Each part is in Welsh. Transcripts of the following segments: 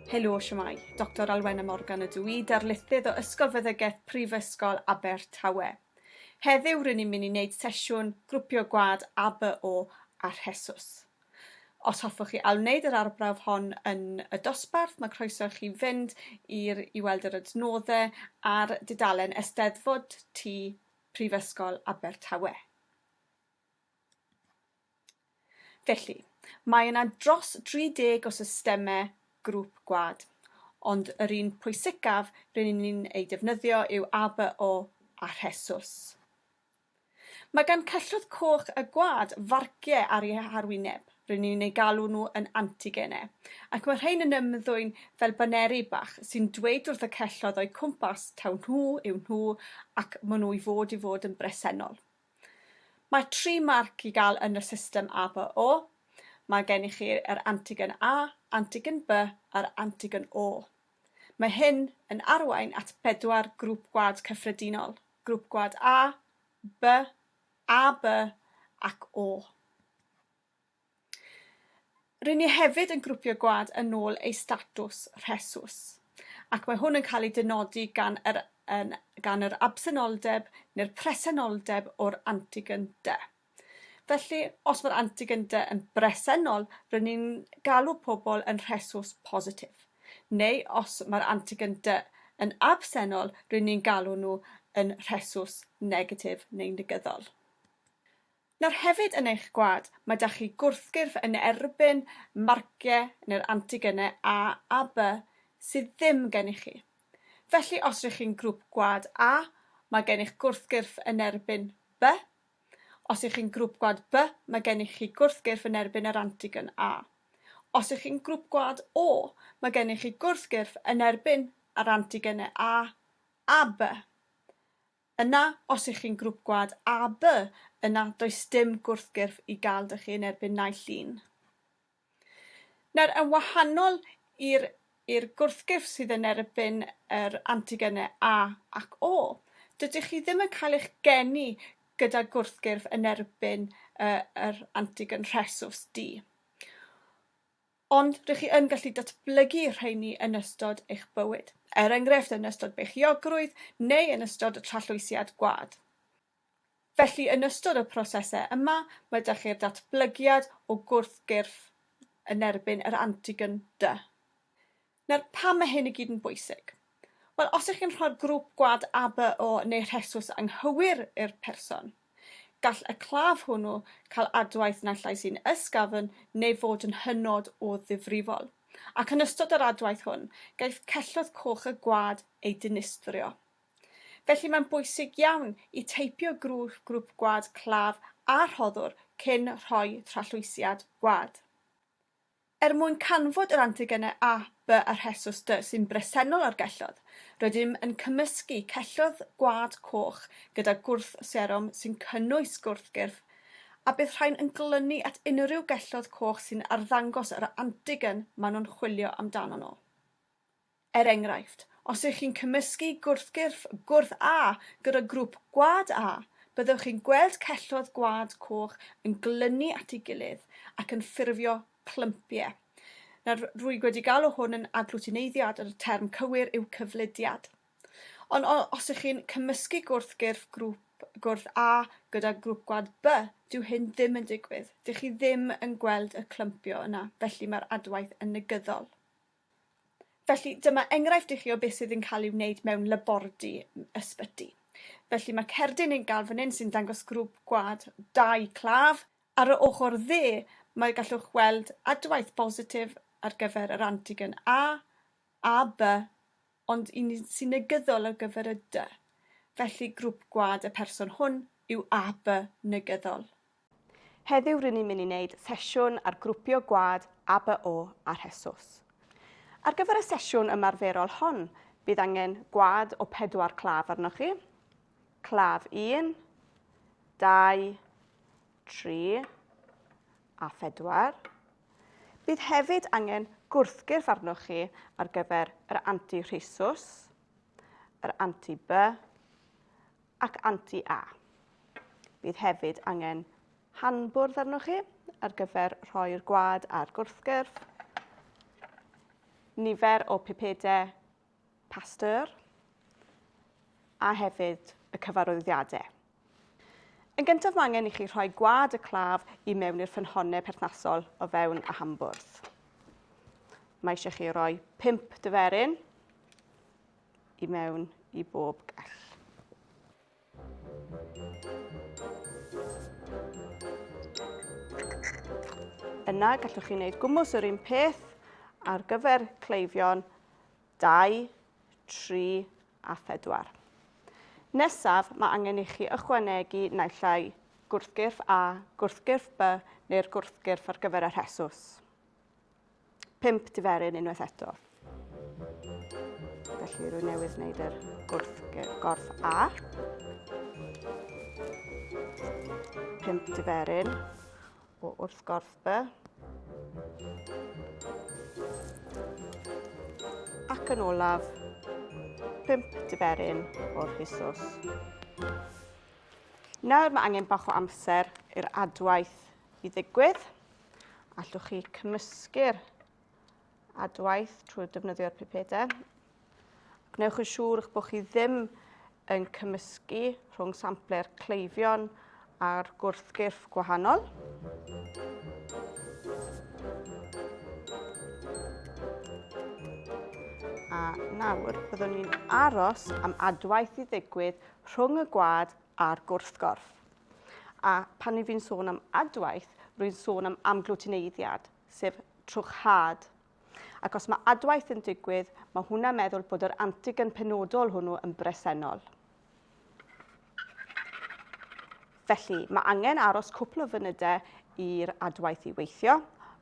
Helo, siwmai. Doctor Alwena Morgan ydw i, darlithydd o Ysgol Feddygaeth Prifysgol Abertawe. Heddiw rydyn ni'n mynd i wneud sesiwn grwpio gwad ABO a rhesws. Os hoffwch chi ail-wneud yr arbrawf hon yn y dosbarth, mae croeso i chi fynd i'r i weld yr adnoddau ar dudalen Eisteddfod Tŷ Prifysgol Abertawe. Felly, mae yna dros 30 o systemau grŵp gwlad, ond yr un pwysicaf rydyn ni'n ei defnyddio yw ABO a Rhesws. Mae gan cyswllt coch a gwad farcie ar ei harwyneb, rŷn ni'n eu galw nhw yn antigene, ac mae rhein yn ymddwyn fel baneri bach sy'n dweud wrth y celloedd o'u cwmpas taw nhw yw nhw ac maen nhw i fod i fod yn bresennol. Mae tri marc i gael yn y system ABO, mae gennych chi yr antigen A, antigen B a'r antigen O. Mae hyn yn arwain at bedwar grŵp gwad cyffredinol. Grŵp Gwlad A, B, AB ac O. Rŷn ni hefyd yn grwpio gwlad yn ôl eu statws rhesus, ac mae hwn yn cael ei dynodi gan yr, yn, gan yr absenoldeb neu'r presenoldeb o'r antigen de. Felly, os mae'r antigen dy yn bresennol, rydyn ni'n galw pobl yn rhesus positif. Neu os mae'r antigen dy yn absennol, rydyn ni'n galw nhw yn rhesus negatif neu negyddol. Nawr hefyd yn eich gwlad, mae da chi gwrthgyrff yn erbyn marciau neu'r antigenau A a B sydd ddim gennych chi. Felly, os rydych chi'n grŵp gwlad A, mae gennych gwrthgyrff yn erbyn B Os ych chi'n grŵp gwlad B, mae gennych chi gwrthgyrff yn erbyn yr antigen A. Os ych chi'n grŵp gwlad O, mae gennych chi gwrthgyrff yn erbyn yr antigenau A a B. Yna, os ych chi'n grŵp gwlad AB, yna does dim gwrthgyrff i gael dych chi yn erbyn naill un. Nawr, yn wahanol i'r i'r gwrthgyrff sydd yn erbyn yr antigene A ac O, dydych chi ddim yn cael eich geni gyda gwrthgyrff yn erbyn y, yr antigen rhesws D. Ond rydych chi yn gallu datblygu rheini yn ystod eich bywyd, er enghraifft yn ystod beichiogrwydd neu yn ystod y trallwysiad gwad. Felly, yn ystod y prosesau yma, mae 'da chi'r datblygiad o gwrthgyrff yn erbyn yr antigen dy. Nawr, pam mae hyn i gyd yn bwysig? Wel, os ych chi'n rhoi'r grŵp gwad ABO neu rhesws anghywir i'r person, gall y claf hwnnw cael adwaith naill ai sy'n ysgafn neu fod yn hynod o ddifrifol, ac yn ystod yr adwaith hwn, gaiff cellwth coch y gwad ei dinistrio. Felly mae'n bwysig iawn i teipio grŵp grŵp gwad claf a rhoddwr cyn rhoi trallwysiad gwad. Er mwyn canfod yr antigenau A, B a rhesws D sy'n bresennol ar gelloedd, rydym yn cymysgu celloedd gwad coch gyda gwrth serom sy'n cynnwys gwrthgyrff, a bydd rhain yn glynu at unrhyw gelloedd coch sy'n arddangos yr antigen maen nhw'n chwilio amdano nhw. Er enghraifft, os ych chi'n cymysgu gwrthgyrff gwrth A gyda grŵp gwad A, byddwch chi'n gweld celloedd gwad coch yn glynu at ei gilydd ac yn ffurfio clympiau. Nawr, rwyg wedi galw hwn yn aglwtineiddiad, ond y term cywir yw cyflidiad. Ond os ych chi'n cymysgu gwrthgyrff grŵp gwrth A gyda grŵp gwad B, dyw hyn ddim yn digwydd. Dych chi ddim yn gweld y clympio yna, felly mae'r adwaith yn negyddol. Felly, dyma enghraifft i chi o beth sydd yn cael ei wneud mewn labordy ysbyty. Felly mae cerdyn yn gael fan hyn sy'n dangos grŵp gwad dau claf. Ar y ochr dde, mae gallwch weld adwaith bositif ar gyfer yr antigen A, AB, ond un sy'n negyddol ar gyfer y dy, felly grwp gwlad y person hwn yw AB negyddol. Heddiw rŷn ni'n mynd i wneud sesiwn ar grwpio gwlad ABO a rhesws. Ar gyfer y sesiwn ymarferol hon, bydd angen gwlad o pedwar claf arnoch chi, claf 1, 2, 3 a 4. Bydd hefyd angen gwrthgyrff arnoch chi ar gyfer yr anti-rhesus, yr anti-B ac anti-A. Bydd hefyd angen hanbwrdd arnoch chi ar gyfer rhoi'r gwad a'r gwrthgyrff, nifer o pipedau Pasteur a hefyd y cyfarwyddiadau. Yn gyntaf mae angen i chi rhoi gwad y claf i mewn i'r ffynhonnau perthnasol o fewn y hambwrdd. Mae eisiau chi roi pimp dyferyn i mewn i bob gall. Yna gallwch chi wneud gwmws yr un peth ar gyfer cleifion 2, 3 a 4. Nesaf, mae angen i chi ychwanegu naill ai gwrthgyrff A, gwrthgyrff B neu'r gwrthgyrff ar gyfer y rhesws. pump diferyn unwaith eto. Felly rwy'n newydd wneud yr gwrth, gorth A. Pump diferyn o wrth gorth B. Ac yn olaf, pump diferyn o'r hysos. Nawr mae angen bach o amser i'r adwaith i ddigwydd. Allwch chi cymysgu'r adwaith trwy defnyddio'r pipedau. Gwnewch yn siŵr eich bod chi ddim yn cymysgu rhwng sampler cleifion a'r gwrthgyrff gwahanol. A nawr, byddwn ni'n aros am adwaith i ddigwydd rhwng y gwad a'r gwrthgorff. A pan ni fi'n sôn am adwaith, rwy'n sôn am amglwtineiddiad, sef trwchhad. Ac os mae adwaith yn digwydd, mae hwnna meddwl bod yr antigen penodol hwnnw yn bresennol. Felly, mae angen aros cwpl o fynydau i'r adwaith i weithio.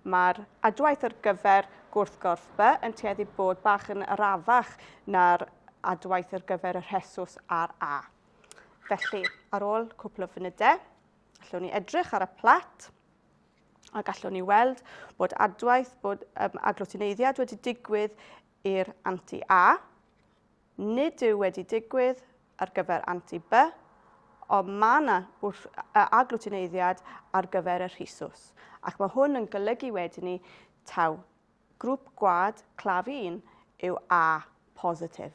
Mae'r adwaith ar gyfer gwrthgorff B yn tueddu bod bach yn arafach na'r adwaith ar gyfer y rhesws a'r A. Felly, ar ôl cwpl o funudau, allwn ni edrych ar y plat a gallwn ni weld bod adwaith bod um, aglutineiddiad wedi digwydd i'r anti-A, nid yw wedi digwydd ar gyfer anti-B, ond mae yna aglutineiddiad ar gyfer y rhisws. Ac mae hwn yn golygu wedyn ni taw grŵp gwad claf 1 yw A positif.